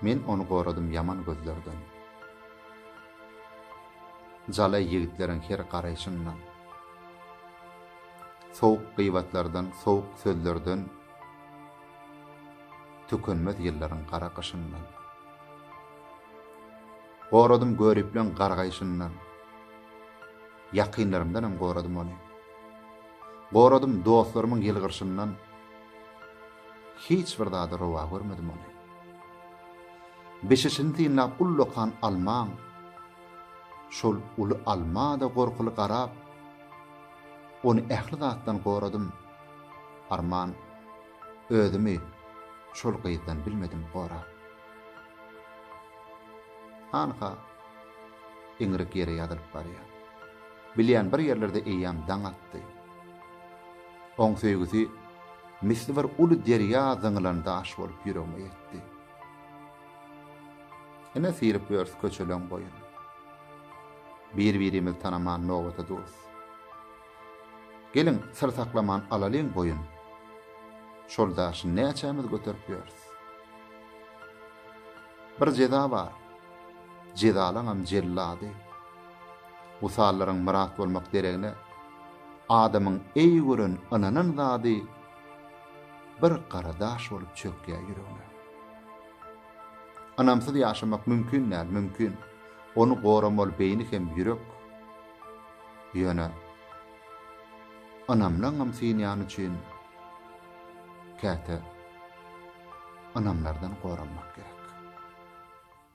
Men ony goradym ýaman gözlerden. Jalaý ýigitleriň her garaýşyndan. Sowuk gybatlardan, sowuk sözlerden, Tükenmez ýyllaryň gara gyşyndan. Goradym göriplän gargaýşyndan. Ýakynlarymdan hem goradym ony. Goradym dostlarymyň ýylgyrşyndan. Hiç bir zada rowa görmedim ony. Bişişini synlap ullakan almaň, şol uly alma-da gorkuly garap, ony ähli zatdan goradym, arman, özümi şol gyzdan bilmedim gorap. Hanha, Iňrik ýere ýazylyp barýar. Bilýän bir ýerlerde eýýäm daň atdy. Oň söýgüsi misli bir uly derýa zyňylan daş bolup ýüregime ýetdi. Ene syryp örs köçeleň boýun. Bir-birimiz tanaman nobata durus. Geliň, syr saklaman alalyň boýun. Şol daşy näçämiz göterip ýörs. Bir jeza bar. Jezalaňam jellady. Wysallaryň myrat bolmak deregine, adamyň eý gören ynanan zady bir gara daş bolup çökýär ýüregine. Ynamsyz ýaşamak mümkin däl, mümkin. Ony goramaly beýni hem ýürek. Ýöne ynamlaňam synýany üçin käte ynamlardan goranmak gerek.